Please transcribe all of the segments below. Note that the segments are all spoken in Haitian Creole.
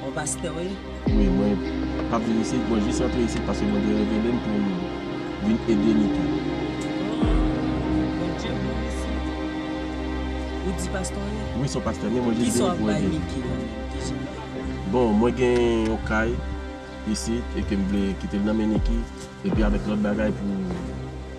Ou pastè wi? Wi mwen pa vin isit mwen jis antre isit paske Bondye revelem poum vin ede nou tou. Ooh Bondye bon mesi. Ou di pastè wi? Wi son pastè men mwen jis vin pou ede. Kisa wap bay Micky la menm ki sou li? Bon mwen gen yon kay isit e kem vle kitel nan men Nicky epi avek lot bagay pou.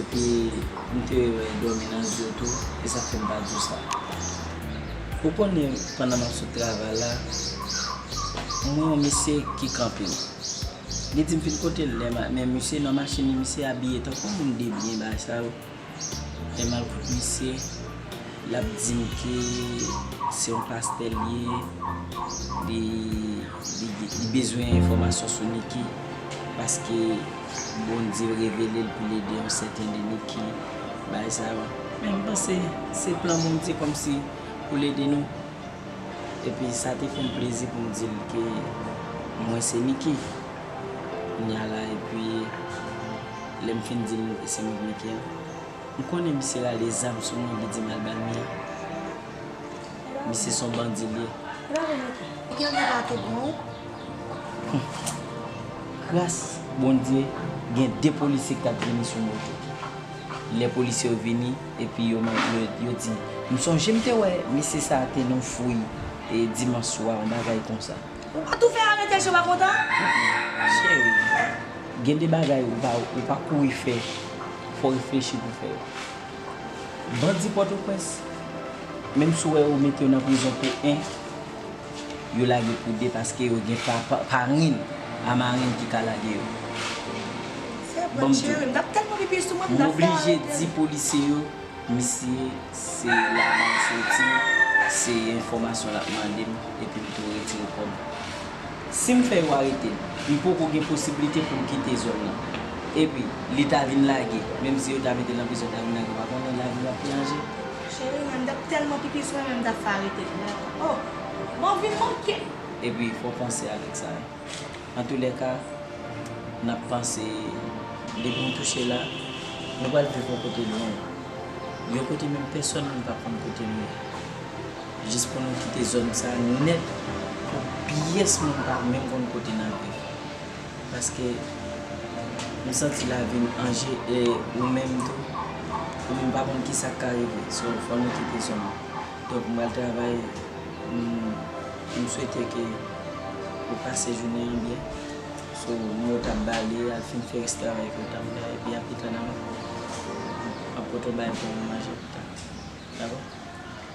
Epi m te wè yo dòmi nan di yo tou, e sa fè m pa di w sa. Ou konnen pandan m ap sot travay la, m wè yon mesye ki kanpe. Li di m vin kote l, men misye nan machin li, misye abiye tankou moun debyen bagay sa yo. Lè m al kot misye, l ap di m ke se yon pastè l ye. Li bezwen enfòmasyon sou Niki paske Bondye revelel poul ede yon sèten de Niki bay sa yo men m panse se plan Bondye kòmsi poul ede nou epi sa te fèm plezi poum dil ke mwen se Niki kounya la epi lèm fin dil nou se mwen k Niki an m konnen misye rale zam sou mwen li dim al bal Mia. Misye son bandi liye. Ou gen vant a tout bon wi. Gras Bondye gen 2 polisye ki tap vini sou moto. Lè polisye yo vini epi yo mande yo di m sonje m te wè mesye sa te nan fouy dimanch swa yon bagay konsa. Ou pa tou fè arete si yo pa kontan? Cheri, gen de bagay ou pa kouri fè, fò w reflechi pou w fè yo. Bandi pòtoprens, menm si w wè yo mete yo nan prizon pou 1, yo lage pou 2 paske yo gen parenn a marenn ki ka lage yo. M oblije di polisye yo, misye se laba l soti, se enfòmasyon l ap mande m epi m tou retire kòb. Si m fè yo arete m, m poko gen posiblite pou m kite zòn nan. Epi, li ta vin lage, menm si yo ta mete l nan prizon, l ta vin lage, w pa konnen lavi l ap pi anje. Cheri mwen, m t ap tèlman pipi sou mwen menm m ta fè arete m nèt. O! Men w vin manke! Epi, fò w panse avèk sa yo. Antoulèka, n ap panse depi nou touche la, nou pral viv yon kote lwen. Yon kote menm pèsòn menm pa p konn kote nou ye. Jis pou nou kite zòn sa nèt pou pyès moun pa menm konn kote n ap viv. Paske m santi lavi m anje e ou menm tou, ou menm pa konn kisa k ka rive. So fò nou kite zòn nan. Donk m pral travay, m swete ke ou pase jounen an byen. So moun yo t ap bale, al fin fè rès travay ke yo t ap fè epi apitan n ap pote w bay pou ou manje pita. Dakò?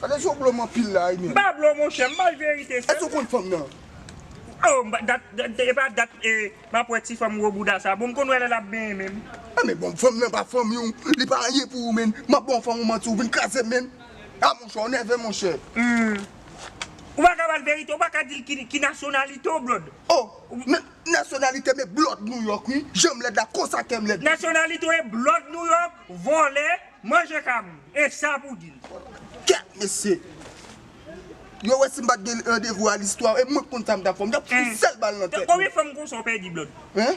Gade jan w blo m anpil la Aynen. M pa blo w monchè, m bay verite sèl. Èske ou konn fanm nan? Oh m pa dat e pa dat e m ap wè ti fanm gwo bouda sa. Bon m konn wè lè l ap benyen menm. Ah men bon fanm nan pa fanmi w, li pa anyen pou ou menn. M ap ba w fanm ou manti ou vin kraze m menn. Ah monchè ou nève monchè. Humm. Ou pa ka ba l verite, ou pa ka di l ki ki nasyonalite w blòd. Oh na nasyonalite m e blòd New York wi. Jan m lèd la konsa kè m lèd. Nasyonalite w e blòd New York, vòlè. Manje kabri, e sa pou di l. Kèt, mesye! Yo wè si m pa t gen randevou a listwa, e mwen konn sa m t ap fè. M t ap fout sèl bal nan tèt nou. Konbyen fanm konsa w pèdi blòd? Hein?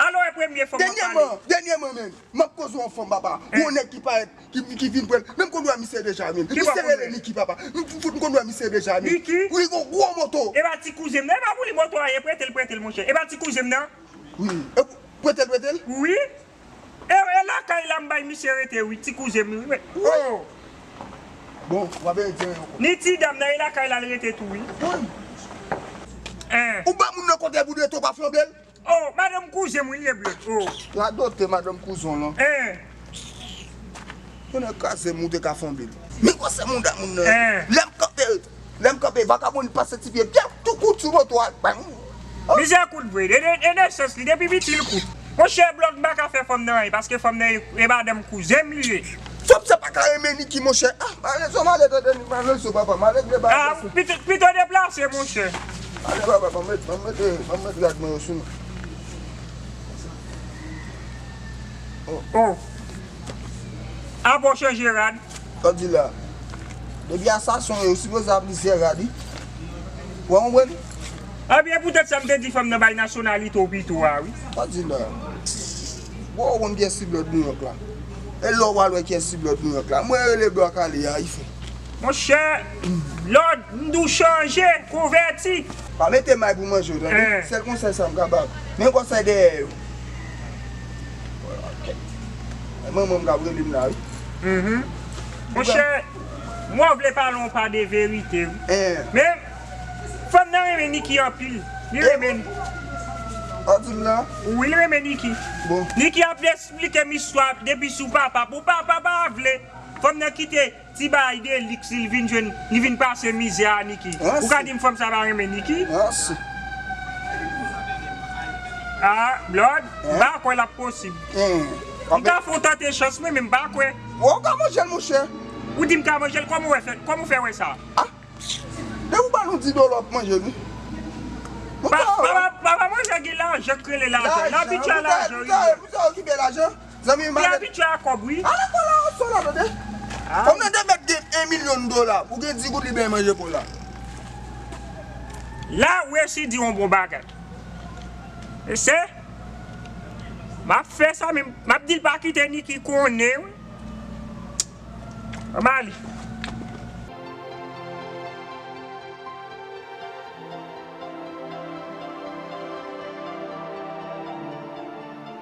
Alò e premye fanm w ap pale? Dènyèman, dènyèman menm, m ap koze w yon fanm, papa. Yon nèg ki parèt, ki vin pran. Men m konn wè misye deja menm. Misye rele Niki, papa. M konn wè misye deja menm. Niki? Wi, yon gwo moto. E pa ti kouzen m nan. E pa pou li moto a ye. Prete l, prete l, monchè. E pa ti kouzen m nan? Wi. Prete l, prete l? Wi. Ew e lakay la m bay misye rete wi ti kouzen m wi ooh. Bon wap bay indien an yon kob. Ni ti dam nan e lakay la l rete tou wi. Wouyy. Eh. Ou ba moun nan kob epi w rete w pa flanbe l. Oh madanm kouzen m wi li ye bleu ooh. Radote madanm kouzon w lan. Eh. Tonnè kraze m ou te ka flanbe l. Men gwosè mouda moun nan. Eh. Lem kanpe. Lè m kanpe vagabon pa santi pye m Gen tou kout sou moto a bang oh. Mizè kout vre e nan sans li depi piti l kout Monchè blòk m pa ka fè fanm nan anyen paske fanm nan e madanm kouzen m li ye. Fanm sa pa ka renmen Niki monchè ah Malèz oh malèz oh Dani malèz oh papa malèz gen bagay ah Pito pito deplase monchè. Malèz papa banm met banm met eh banm met rad mwen yo sou mwen oh. Oh ah bon chanje rad. Sa w di la. Depi asason yo sipoze ap li sè rad wi. Ou pa konprann? Ebyen pou tèt sa m te di fòm nan bay nasyonalite w pito a wi. Sa w di la. Bon ou konn kiyès ti blòd Nouyòk la. E lè w pral wè kiyès ti blòd Nouyòk la. Mwen rele bwa kale a ife. Monchè blòd m di w chanje, konvèti. Pa mete may pou manje w tande. Sèl konsèy sa m ka ba w. Men konsèy dèyè yo. E manmanm kap relem la wi. Uhmm monchè mwen vle pale yon pa de verite wi men fanm nan renmen Niki anpil li renmen li wap dim la wi li renmen Niki Niki ap esplikem istwa depi sou papa pou papa pa vle fanm nan kite Ti bagay deliks li vin jwenn li vin pase mizè a Niki ou ka dim fanm sa pa renmen Niki ah blòd m pa kwè lap posib m ta fon tante chans mwen men m pa kwè ou ka manjel monchè ou dim ka manjel kòman wè fè kòman ou fè wè sa ah depi ou ba nou di dòlà wap manjel wi pa pa manjè gen lajan k rele lajan n abitye a lajan wi blòd. Zanmim Li abitye a kòb wi. Ala pola wap fè la tande. Fanm nan te mèt gen 1 milyon dola pou gen 10 goud li bay manje pola. La ou resi di yon bon bagay. Mesye Map fè sa men map dil pa kite Niki konnen wi. Anm ale.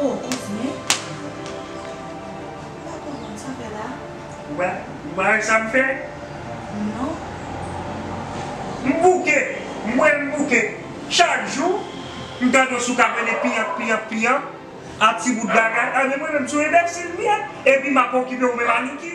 Oh kontinye. M pa konprann sa fè la. Ou pa ou pa wè sa m fè? Non. M bouke, m wè m bouke. Chak jou, m tande w sou kafe li piyanp, piyanp, piyanp. A ti bout bagay. A men mwen menm m sou enbèsil m ye. Epi m ap okipe ou menm Aniki.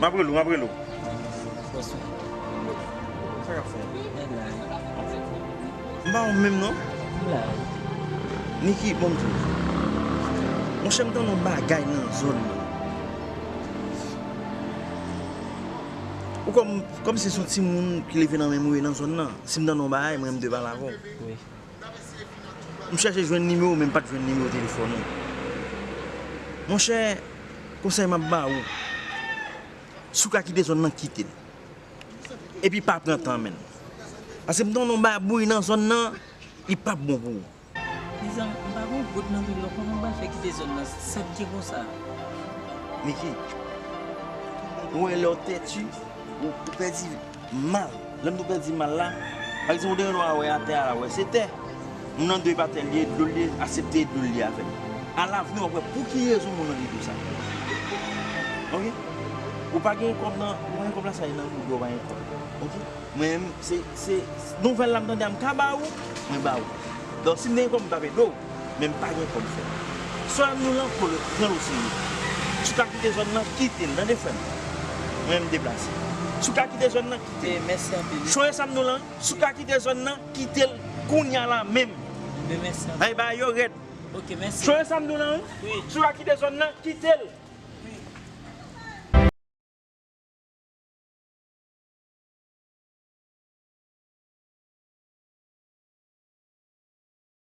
Map rele w map rele w. M pa wè w menm non. Niki banm tou. Monchè m tande yon bagay nan zòn mwen. Ou konn m se son timoun ki leve nan menm ou ye nan zòn nan. Si m tande yon bagay m renmen m te pale avè w. M chache jwenn nimewo men m pat jwenn nimewo telefòn ou. Monchè, konsèy m ap ba ou, si w ka kite zòn nan, kite l. Epi pa pran tan menn. Paske m konnen w babouy nan zòn nan, li pap bon pou ou. Dizan, m pa gen goud nan men m nan, kòman m pral fè kite zòn nan, sa k gen konsa a? Niki, ou wè lè w tètu, ou pèdi. Mal. Lè m tou pè di mal la, pa egzanp ou te renmen w a wè a tè a la wè se tè. Moun nan dwe pa tè l ye, dlo l ye, asepte e dlo l ye avè l. A lavni w ap wè pou ki rezon moun nan gen dlo sa. Ok. Ou pa gen kòb nan, ou pa gen kòb la sa e nan ou dwe ou pa gen kòb. Ok. Mwen menm se, se, nouvèl la m tande a m ka ba ou, mwen ba ou. Donk si m te gen kòb m t ap ede w. Men m pa gen kòb frè m. Sòl m lan kolo t pran l oserye. Si w ka kite zòn lan kite l tande frè m. Mwen m deplase. Si w ka kite zòn lan kite l. Chore sa m nou lan si w ka kite zòn lan kite l kounya la menm. Hay bagay yo rèd. Chore sa m nou lan wi. Si w ka kite zòn lan kite l.